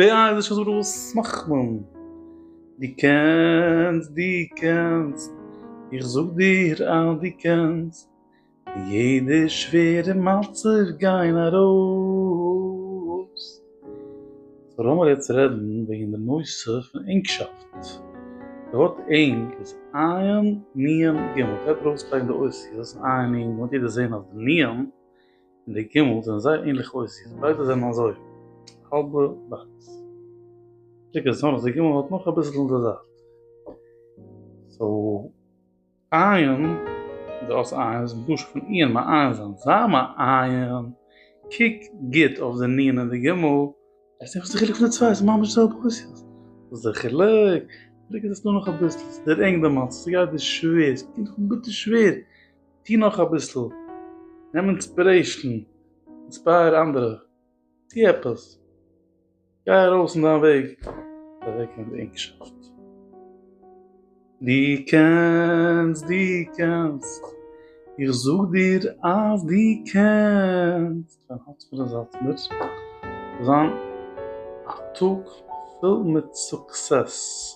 די אייזישע זאגט וואס מאכט מען? דו קענסט דו קענסט איך זאג דיר אז דו קענסט פון יעדע שווערע מצב גיין ארויס. סאו לאמיר יעצט רעדן וועגן די נושא פון ענגשאפט. די ווארט ענג איז עיין נ' ג'. מ'קען ארויסלייגן די אותיות עיין נ' ג' און מ'וועט יעדער זען אז די נ' און די גומל זענען זייער ענליך אויסזעהן, ביידע זענען אזוי האלבע באקס, שטיקער איז נאר אז די גומל האט נאך אביסל אין די זייט, סאו עיין דאס עיין זיך דאס פון איהר מעיין זיין זיי מעיין, קוק גוט אויף די נון און די גומל, וועסט זעהן וואס די חילוק פון די צוויי איז ממש די זעלבע אויסזעהן, וואס איז די חילוק? די חילוק איז אז עס איז דא נאך אביסל, עס איז דער ענג דערמאנט, עס איז גייט דיר שווער, עס קומט דיר ביטער שווער. טו נאך אביסל, נעם אינספירעישן, אינספייער אנדערע, טו עפעס, גיי ארויס אין דיין וועג צו אוועקגיין די ענגשאפט. דו קענסט, דו קענסט, איך זאג דיר אז דו קענסט, דיין הארץ פון די זאלצמער זאל זיין א טאג פול מיט סוקסעס.